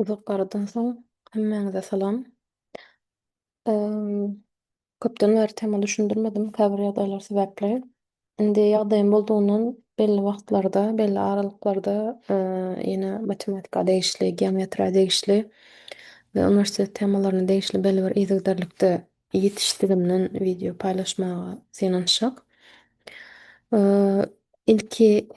Uzak aradan soň hemmäňize salam. Köpden bäri tema düşündirmedim käbir ýagdaýlar sebäpli. Indi ýagdaýym boldugyndan belli wagtlarda, belli aralyklarda ýene matematika degişli, geometriýa degişli we uniwersitet temalaryna degişli belli bir yzygiderlikde Ýetişdigimden wideo paýlaşmaga synanyşjak. Ilki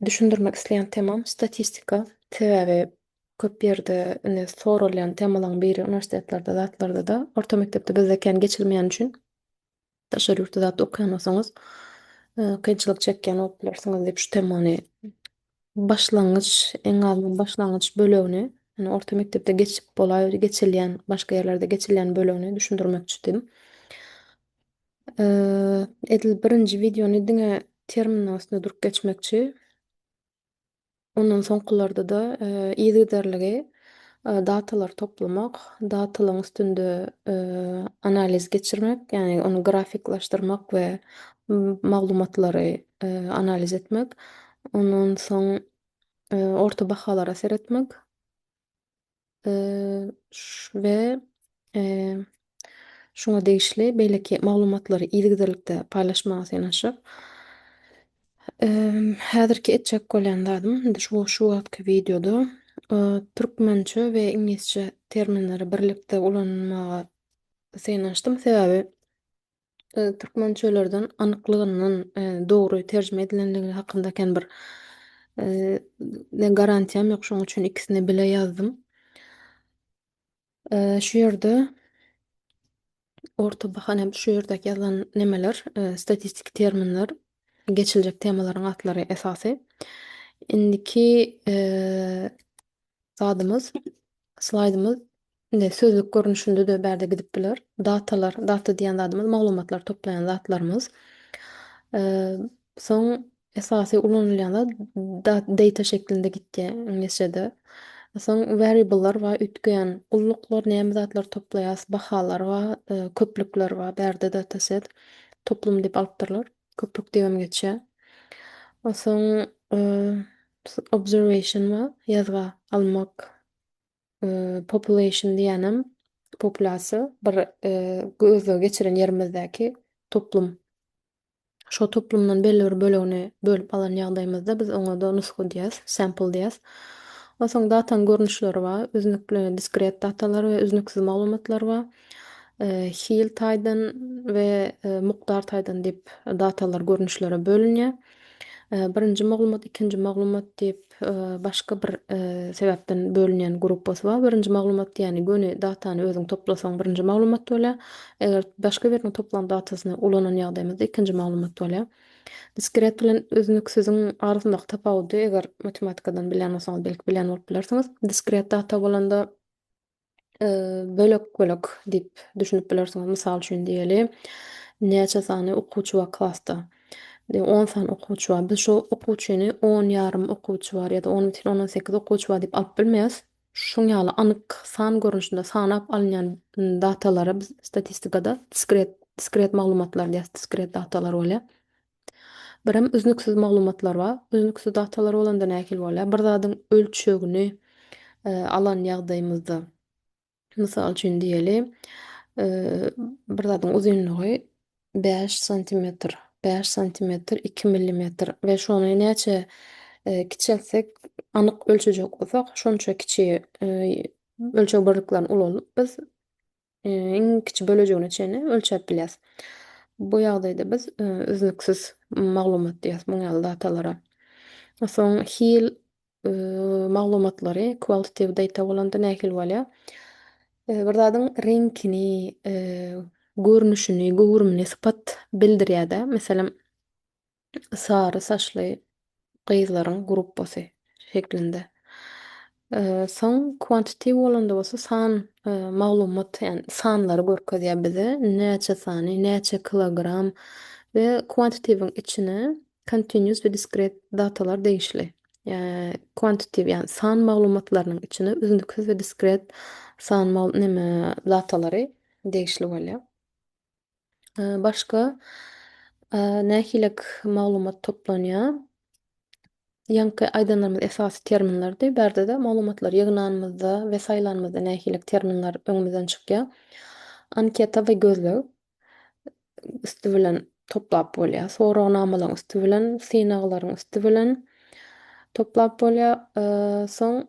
düşündirmek isleýän temam statistika. Sebäbi köp ýerde indi soralýan temalaryň biri uniwersitetlerde zatlarda-da orta mekdepde bizde kän geçilmeýäni üçin daşary ýurtda zat okaýan bolsaňyz kynçylyk çekýän bolup bilersiňiz diýip şu temany başlangyç, iň azyndan başlangyç bölegini, ýagny orta mekdepde geçip bolaý, geçilýän, başga ýerlerde geçilýän bölegini düşündirmekçidim. Edil birinji wideony diňe terminiň üstünde durup geçmekçi. Ondan soňkularda-da yzygiderligi datalary toplamak, datalaryň üstünde analiz geçirmek, ýagny ony grafiklaşdyrmak we maglumatlary analiz etmek, ondan soň orta bahalara seretmek we şuňa degişli beýleki maglumatlary yzygiderlikde paýlaşmaga synanyşyp, häzirki etjek bolýan zadym indi şu şu wagtky wideoda türkmençe we iňlisçe terminleri birlikde ulanmaga synanyşdym, sebäbi türkmençelerden anyklygyndan dogry terjime edilendigi hakynda kän bir garantiýam ýok. Şonuň üçin ikisini bile ýazdym. Şu ýerde orta bahana şu ýerdäki ýazylan nemeler statistiki terminler, geçiljek temalaryň atlary esasy. Indiki zadymyz, slaýdymyz Indi sözlük görnüşinde-de bärde gidip biler. Datalar, data diýen zadymyz maglumatlary toplaýan zatlarymyz. Soň esasy ulanylýan zat dat data şeklinde gitýär iňlisçede. Soň variable'lar bar, üýtgeýän gulluklar, näme zatlary toplaýas, bahalar bar, köplükler bar. Bärde dataset, toplum diýip alypdyrlar. Köplük diýibem geçýär. Soň obserwation bar, ýazga almak Population diýýänem populýasiýa bir gözleg geçiren ýerimizdäki toplum. Şo toplumdan belli bir bölegini bölüp alan ýagdaýymyzda biz oňa-da nusga diýýäs, sample diýýäs. Ondan soň datanyň görnüşleri bar. Üznükli, diskret datalar we üznüksiz maglumatlar bar. Hil taýdan we mukdar taýdan diýip datalar görnüşlere bölünýär. Birinji maglumat, ikinji maglumat diýip, başga bir sebäpden bölünýän gruppasy bar. Birinji maglumat diýýäni göni datany özüň toplasaň birinji maglumat bolýar. Eger başga biriniň toplan datasyny ulanan ýagdaýymyzda ikinji maglumat bolýar. Diskret bilen üznüksiziň arasyndaky tapawudy eger matematikadan bilýän bolsaňyz belki bilýän bolup bilersiňiz. Diskret data bolanda bölek-bölek diýip düşünip bilersiňiz. Mysal üçin diýeli, näçe sany okuwçy bar klasda? Diýip, 10 sany okuwçy bar. Biz şu okuwçyny 10 ýarym okuwçy bar ýa-da 10 bitin ondan sekiz okuwçy bar diýip alyp bilmeris. Şuň ýaly anyk san görnüşinde sanap alynýan datalara biz statistikada diskret, diskret maglumatlar diýýäs, diskret datalar bolýar. Birem üznüksiz maglumatlar bar. Üznüksiz datalar bolanda nähili bolýar? Bir zadyň ölçegini alan ýagdaýymyzda, mysal üçin diýeli, bir zadyň uzynlygy bäş santimetr, bäş santimetr iki millimetr we şony näçe kiçeltsek, anyk ölçejek bolsak, şonça kiçi ölçeg birliklerini ulanyp biz iň kiçi bölejigine çenli ölçäp bilýäris. Bu ýagdaýda biz üznüksiz maglumat diýýäris muň ýaly datalara. Soň hil maglumatlary, qualitative data bolanda nähili bolýar? Bir zadyň reňkini, görnüşini, göwrümini, sypat bildirýär-de. Meselem, sary saçly gyzlaryň gruppasy şeklinde. Soň quantity bolanda bolsa san maglumat, ýagny sanlary görkezýär bize. Näçe sany, näçe kilogram we quantity-iň içine continuous we discrete datalar degişli. Quantity, ýagny san maglumatlarynyň içine üznüksiz we diskret san neme datalary degişli bolýar. Başga nähililik maglumat toplanýar? Ýaňky aýdanlarymyz esasy terminlerdi. Bärde-de maglumatlary ýygnanymyzda we saýlanymyzda nähililik terminler öňümizden çykýar? Anketa we gözleg üsti bilen toplap bolýar. Soragnamalaryň üsti bilen, synaglaryň üsti bilen toplap bolýar. Soň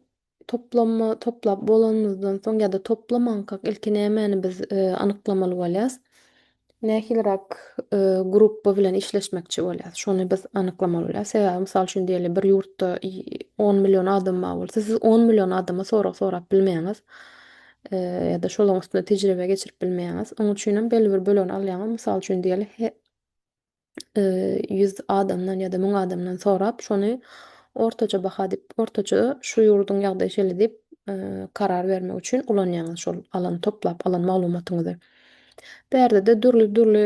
Toplama toplap bolanymyzdan soň ýa-da toplamankak ilki nämäni biz anyklamaly bolýas? Nähiliräk grupba bilen işleşmekçi bolýas? Şony biz anyklamaly bolýas. Sebäbi mysal üçin diýeli bir ýurtda on million adam bar bolsa siz on million adama sorag sorap bilmeýäňiz. Ýa-da şolaň üstünde tejribe geçirip bilmeýäňiz. Onuň üçinem belli bir bölegini alýaňyz. Mysal üçin diýeli ýüz adamdan ýa-da müň adamdan sorap, şony ortaça baha diýip, ortaça şu ýurduň ýagdaýy şeýle diýip, karar bermek üçin ulanýaňyz şol alan, toplap alan maglumatyňyzy. Bu ýerde-de dürli-dürli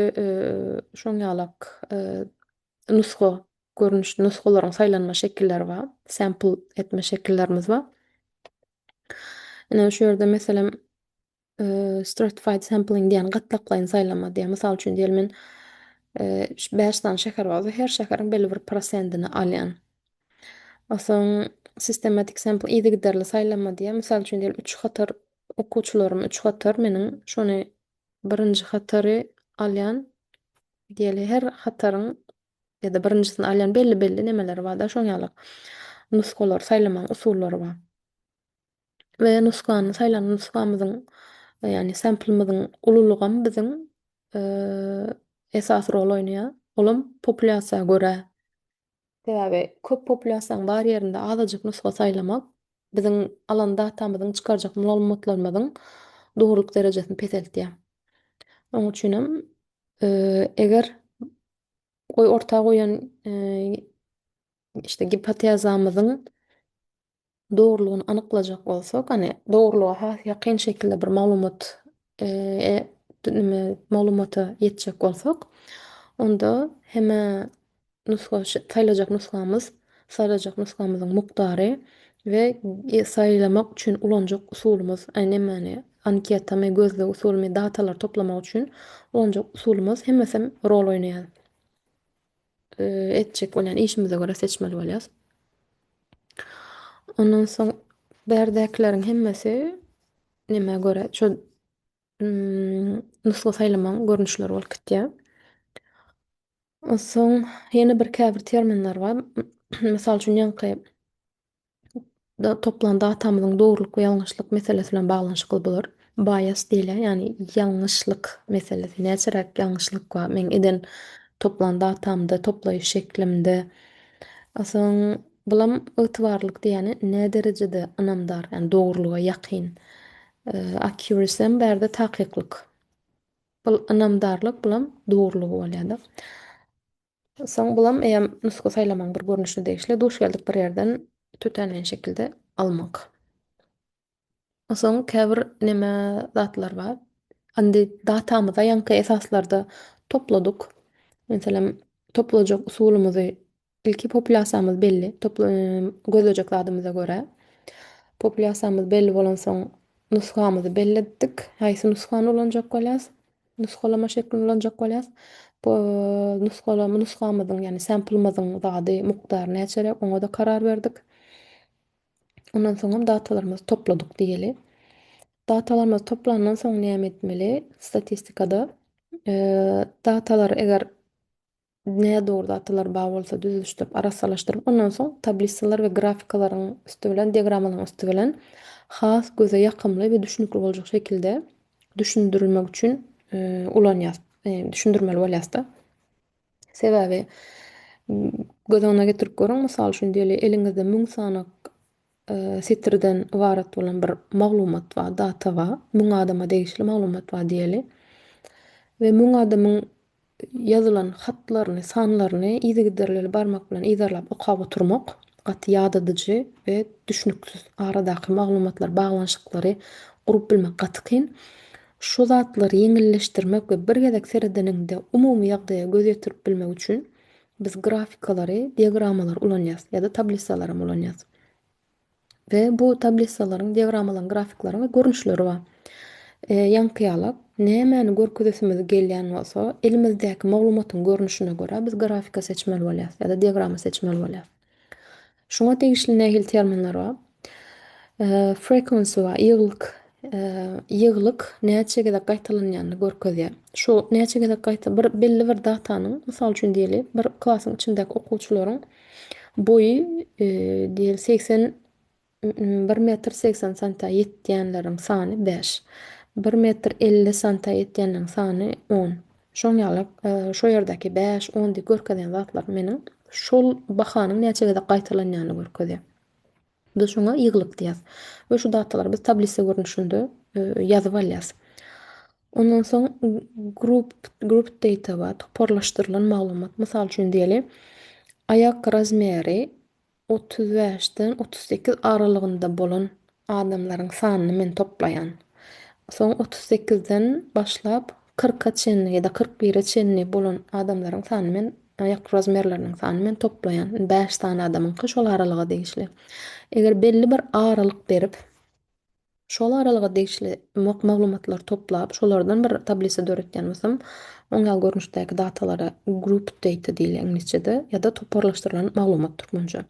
şoň ýalak nusga görnüş, nusgalaryň saýlanma şekilleri bar, sample etme şekillerimiz bar. Ine, şu ýerde, meselem, Stratified sampling diýýän gatlaklaýyn saýlama diýýär. Mysal üçin diýeli men bäş sany şäher bar we her şäheriň belli bir prosendini alýan. Onsoň sistematik sampl yzygiderli saýlama diýýär. Mysal üçin diýeli üç hatar okuwçylarym üç hatar meniň şony birinji hatary alýan. Diýeli her hataryň ýa-da birinjisini alýan belli belli nemeleri barda şoň ýaly nusgalar saýlamagyň usullary bar. we nusgany, saýlan nusgamyzyň, ýagny samplymyzyň ululygam biziň esasy rol oýnaýar. Olam populýasiýa görä. Sebäbi köp populýasiýanyň bar ýerinde azajyk nusga saýlamak biziň alan datamyzyň, çykarjak maglumatlarymyzyň dogrulyk derejesini peseltýär. Onuň üçin hem eger orta goýan işte gipotezamyzyň dogrulygyny anyklajak bolsak, hani dogrulyga has ýakyn şekilde bir maglumat maglumata ýetjek bolsak, onda heme nusga saýlajak nusgamyz, saýlajak nusgamyzyň mukdary we saýlamak üçin ulanjak usulymyz, nämäni anketami, gözleg usulymy, datalary toplamak üçin ulanjak usulymyz hemmesem rol oýnaýar. etjek bolýan işimize görä seçmeli bolýarys. Ondan soň bärdäkileriň hemmesi nämä görä şol nusga saýlamagyň görnüşleri bolup gitýär. Onsoň ýene bir käbir terminler bar. Mysal üçin ýaňky toplan datamyzyň dogrulyk we ýalňyşlyk meselesi bilen baglanyşykly bolar. Bias diýilýär, ýagny ýalňyşlyk meselesi. Näçeräk ýalňyşlyk bar meň eden toplan datamda, toplaýyş şeklimde. Soň bulam ygtybarlylyk diýýäni nä derejede ynamdar, ýagny dogrulyga ýakyn. Accuracy hem bärde takyklyk. Bul ynamdarlyk, bulam dogrulygy bolýar-da. Soň bulam eýýäm nusga saýlamaň bir görnüşine degişli duş geldik bir ýerden tötänleýin şekilde almak. Soň käbir neme zatlar bar. Indi datamyza ýaňky esaslarda topladyk. Meselem toplajak usulymyzy ilki populýasiýamyz belli gözlejek zadymyza görä. Populýasiýamyz belli bolansoň nusgamyzy belletdik. Haýsy nusgany ulanjak bolýas. Nusgalama şeklini ulanjak bolýas. Bu nusgalama nusgamyzyň, ýagny sample-myzyň zady, mukdary näçeräk, oňa-da karar berdik. Ondan soňam datalarymyzy topladyk diýeli. Datalarymyzy toplandan soň näme etmeli? Statistikada datalary eger nädogry datalar bar bolsa düzüşdirip arassalaşdyryp ondan soň tablisalar we grafikalaryň üsti bilen diagramalaryň üsti bilen has göze ýakymly we düşnükli boljak şekilde düşündirmek üçin ulanýas düşündirmeli bolýasda sebäbi göz öňüne getirip görüň mysal üçin diýeli eliňizde müň sany setirden ybarat bolan bir maglumat bar, data bar. Müň adama degişli maglumat bar diýeli. We müň adamyň ýazylan hatlaryny, sanlaryny yzygiderlili barmak bilen yzarlap okap oturmak gaty ýadadyjy we düşnüksiz. Aradaky maglumatlar, baglanyşyklary gurup bilmek gaty kyn. Şu zatlary ýeňilleşdirmek we bir gezek seredeniňde umumy ýagdaýa göz ýetirip bilmek üçin Biz grafikalary, diagrammalary ulanýarys ýa-da tablissalaram ulanýarys. We bu tablissalaryň, diagrammalary, grafiklaryň we görnüşleri bar. Ýaňky ýaly, nämäni görkezesimiz gelýän bolsa, elimizdäki maglumatyň görnüşine görä biz grafika seçmeli bolýarys ýa-da diagramma seçmeli bolýarys. Şuňa degişli nähili terminler bar? Frequency bar, ýygylyk. Ýygylyk näçe gezek gaýtalanýanyny görkezýär. Şu näçe gezek gaýta, bir belli bir datanyň, mysal üçin diýeli, bir klasyň içindäki okuwçylaryň boýy diýeli segsen Bir metr segsen santa ýetýänleriň sany bäş. Bir metr elli santa ýetýänleriň sany on. Şoň ýaly şo ýerdäki bäş, on diýip görkezýän zatlar meniň şol bahanyň näçe gezek gaýtalanýanyny görkezýär. Biz şoňa ýygylyk diýýäs we şu datalary biz tablisa görnüşinde ýazyp alýas. Ondan soň group grouped data bar, toparlaşdyrylan maglumat. Mysal üçin diýeli, aýak razmeri Otuz bäşden otuz sekiz aralygynda bolan adamlaryň sanyny men toplaýan. Soň otuz sekizden başlap kyrka çenli ýa-da kyrk bire çenli bolan adamlaryň sanyny men, aýak rozmerleriniň sanyny men toplaýan. Indi bäş sany adamyňky şol aralyga degişli. Eger belli bir aralyk berip, Şol aralyga degişli maglumatlary toplap, şolardan bir tablisa döretýän bolsam, oň ýaly görnüşdäki datalara grouped data diýilýär iňlisçede, ýa-da toparlaşdyrylan maglumat, türkmençe.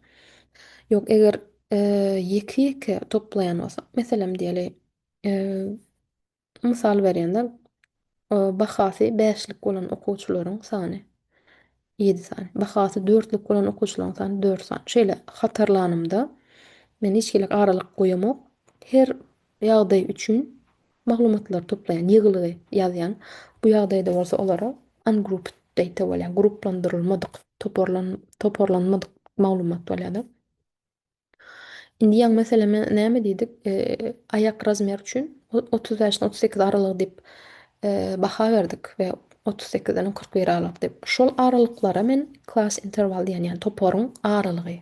Ýok, eger ýeke-ýeke toplaýan bolsak, meselem diýeli, mysal berýän-de, Bahasy bäşlik bolan okuwçylaryň sany, ýedi sany. Bahasy dörtlük bolan okuwçylaryň sany, dört sany. Şeýle hatarlanymda, men hiç hili aralyk goýamok. Her ýagdaý üçin maglumatlary toplaýan, ýygylygy ýazýan. Bu ýagdaýda bolsa olara ungrouped data bolýar, grupplandyrylmadyk, toparlanmadyk maglumat bolýar-da. Indi ýaň meseleme näme diýdik? Aýak razmer üçin otuz bäşden otuz sekiz aralygy diýip baha berdik we otuz sekizden kyrk bir aralyk diýip. Şol aralyklara men class interval diýen, ýagny toparyň aralygy.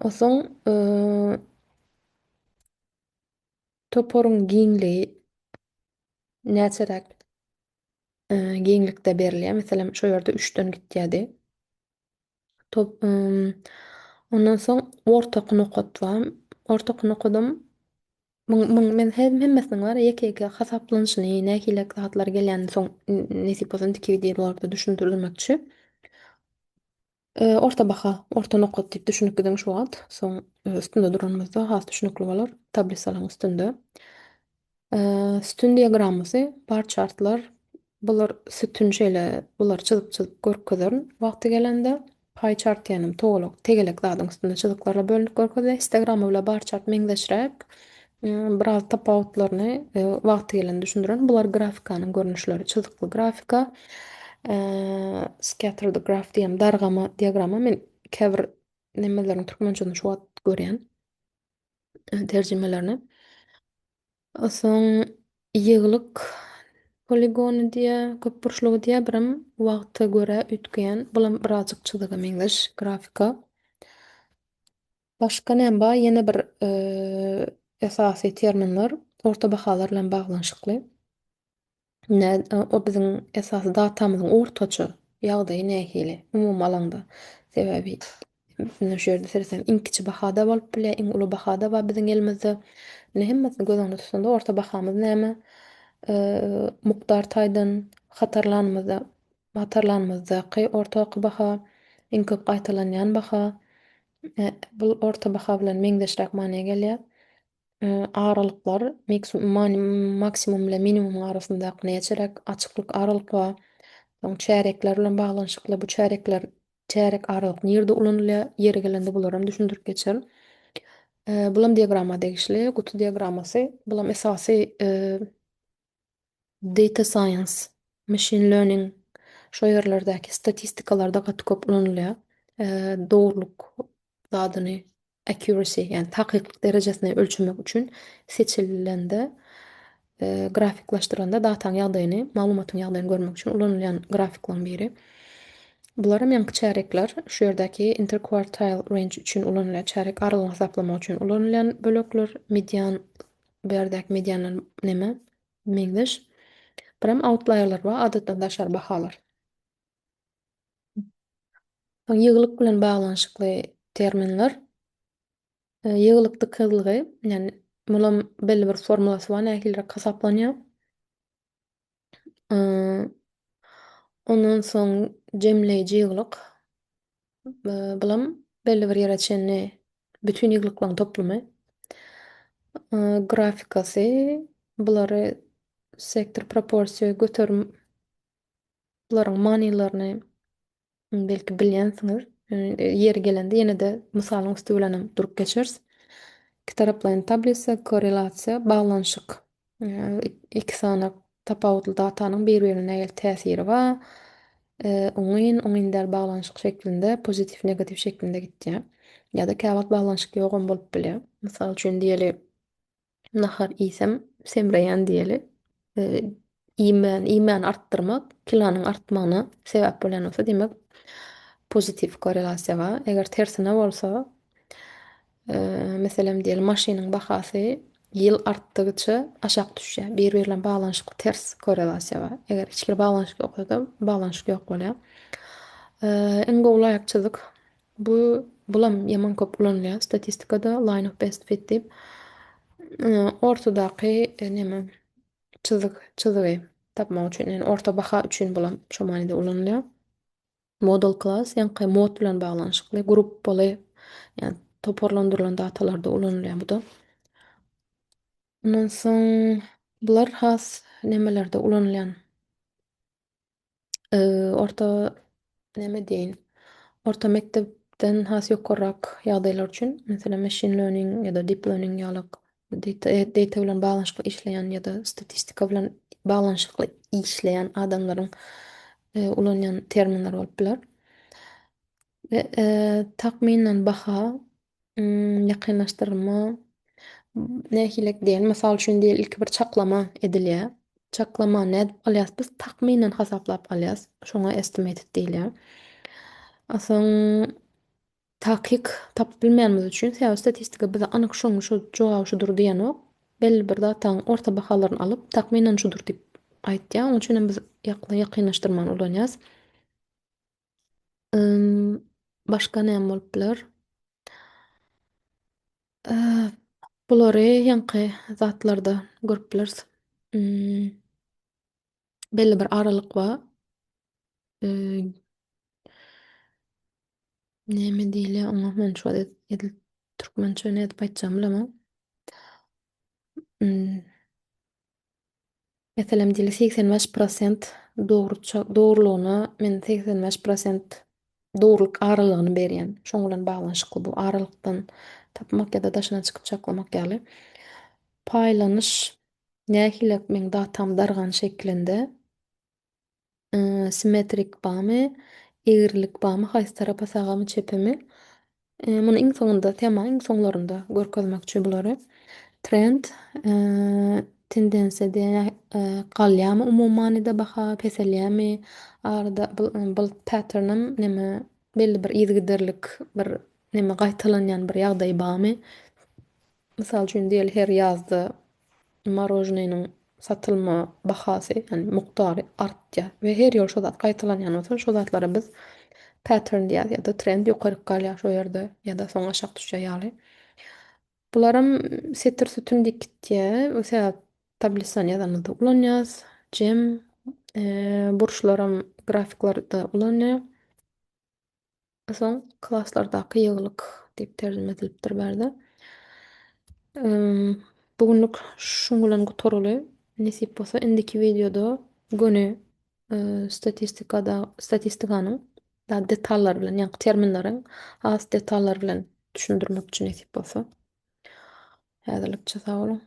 Onsoň toparyň giňligi näçeräk giňlikde berilýär? Meselem, şu ýerde üçden gitýärdi. Top ondan soň ortaky nokat bar. Ortaky nokadam muň muň men he hemmesiniň bar ya ýeke-ýeke hasaplanyşyny, nähili zatlar gelýänini soň nesip bolsa indiki wideolarda düşündirmekçi. Orta baha, orta nokat diýip düşünip gidiň şu wagt. Soň üstünde duranymyzda has düşnükli bolar, tablisalaryň üstünde. Sütün diagrammasy, bar çartlar, bular sütün şeýle bulary çyzyp çyzyp görkezerin wagty gelende. Paý çart diýenim towalak tegelek zadyň üstünde çyzyklara bölünip görkezilýär. Histogramma bilen bar çart meňzeşräk. Biraz tapawutlaryny wagty gelende düşündirerin. Bular grafikanyň görnüşleri çyzykly grafika, scattered graf diýem dargama diagramma men käbir nemeleriň türkmençesini şu wagt görýän. terjimelerine. Soň ýygylyk poligony diýýär, köpburçlugy diýýär, birem wagta görä üýtgeýän, bulam birazjyk çyzyga meňzeş grafika. Başga näme bar? Ýene bir esasy terminler orta bahalar bilen baglanyşykly. Ine, o biziň esasy datamyzyň ortaça ýagdaýy nähili, umumy alanda? Sebäbi şu ýerde seretseňiz, iň kiçi baha-da bolup bilýär, iň uly baha-da bar biziň elimizde. Indi hemmesini göz öňünde tutanda orta bahamyz näme? Mukdar taýdan hatarlanymyzda, hatarlanymyzdaky ortaky baha, iň köp gaýtalanýan baha, bu orta baha bilen meňzeşräk manyýa gelýär. Aralyklar maksimum bilen minimumyň arasyndaky näçe çärek açyklyk aralyk bar? Soň çärekler bilen baglanyşykly bu çärekler çärek aralyk nirde ulanylýar? Ýeri gelende bularam düşündirip geçer. Bulam diagramma degişli. Guty diagrammasy bulam esasy Data science, machine learning şo ýerlerdäki statistikalarda gaty köp ulanylýar. Dogrulyk zadyny, accuracy, ýagny takyklyk derejesini ölçemek üçin seçilende, grafiklaşdyrylanda dataň ýagdaýyny, maglumatyň ýagdaýyny görmek üçin ulanylýan grafiklaryň biri. Bularam ýaňky çärekler. Şu ýerdäki interquartile range üçin ulanylýar. Çärek aralygyny hasaplamak üçin ulanylýan bölekler. Median Bu ýerdäki medianlar näme? Meňzeş. Biram outlaýerler we adatdan daşary bahalar. Ýygylyk bilen baglanyşykly terminler. Ýygylyk dykyzlygy, ýagny mulam belli bir formulasy bar, nähiliräk hasaplanýar. Ondan soň jemleýji ýyglyk. Bulam belli bir ýere çenli bütin ýyglyklaryň toplumy. Grafikasy, bulary sektor, proporsiýa, göterim, bularyň manylaryny belki bilýänsiňiz, ýeri gelende ýene-de mysalyň üsti bilenem durup geçeris. Ikitaraplaýyn tablisa, korrelasiýa, baglanyşyk. Iki sany tapawutly datanyň bir-birine nähili täsiri bar? Oňyn, oňyn däl baglanyşyk şeklinde, pozitiw, negatiw şeklinde gitýär. Ýa-da käwagt baglanyşyk ýogam bolup bilýär. Mysal üçin diýeli, Nahar iýsem, semreýän diýeli. Iýmän, iýmäni artdyrmak kilonyň artmagyna sebäp bolýan bolsa, diýmek, pozitiw korrelasiýa bar. Eger tersine bolsa, meselem, diýeli, maşynyň bahasy ýyl artdygyça aşak düşýär. Biri-biri bilen baglanyşykly ters korrelasiýa bar. Eger hiç bir baglanyşyk ýoksa-da, baglanyşyk ýok bolýar. Iň gowy laýykçylyk, Bu bulam ýaman köp ulanylýar statistikada line of best fit diýip. Ortadaky e, neme çyzyk çyzygy tapmak üçin ýani orta baha üçin bulam şu manyda ulanylýar. Model class ýaňky mod bilen baglanyşykly gruppaly ýani toparlandyrylan datalarda ulanylýar bu da. Ondan soň bular has nemelerde ulanylýan orta näme diýeýin, orta mekdepden has ýokarrak ýagdaýlar üçin, meselem, machine learning ýa-da deep learning ýalyk data bilen baglanyşykly işleýän ýa-da statistika bilen baglanyşykly işleýän adamlaryň ulanýan terminleri bolup biler. Takmynan baha ýakynlaşdyrylma nähilek diýen, mysal üçin diýeli, ilki bir çaklama edilýär. Çaklamany nädip alýas biz? Takmynan hasaplap alýas. Şoňa estimated diýilýär. A soň takyk tapyp bilmänimiz üçin, sebäbi statistika bize anyk şoň şu jogaby şudur diýenok. Belli bir datanyň orta bahalaryny alyp, takmynan şudur diýip aýtýar. Onuň üçinem biz ýakynlaşdyrmany ulanýas. Ym, başga näme bolup biler? Bulary ýaňky zatlarda görüp bileris. Ym, belli bir aralyk bar. Ym, näme diýilýär oňa? Men şu wagt edil türkmençe nädip aýtjagymy bilemok. Ym. Meselem diýli segsen bäş prosent dogruça dogrulygyna men segsen bäş prosent dogrulyk aralygyny berýän. Şoň bilen baglanyşykly bu aralykdan tapmak ýa-da daşyna çykyp çaklamak ýaly. Paýlanyş nähili meň datam dargan şeklinde. Simmetrik bamy, egrilik bamy, haýsy tarapa sagamy, çepemi. Muny iň soňunda, tema iň soňlarynda görkezmekçi bulary. Trend, tendensiýa diýen galýamy umumy manyda baha, peselýämi, arada bulut patternam neme belli bir yzygiderlik bir neme gaýtalanýan bir ýagdaý bamy. Mysal üçin, diýeli her ýazda morožneniň satylma bahasy, ýagny mukdary artýar we her ýyl şo zat gaýtalanýan bolsa, şo zatlara biz pattern diýýäs ýa-da trend ýokaryk galýar şo ýerde ýa-da soň aşak düşýär ýaly. Bularam setir sütün diýip gitýär. Bu sebäp tablisany ýazanymyzda ulanýas. Jem burçlaram grafiklarda ulanýar. Soň klaslardaky ýygylyk diýip terjime edilipdir bärde. Bu günlük şuň bilen gutarly. Nesip bolsa indiki wideoda göni statistikada statistikanyň da detallary bilen, ýa terminleriň has detallary bilen düşündirmekçi nesip bolsa. Häzirlikçe sag boluň.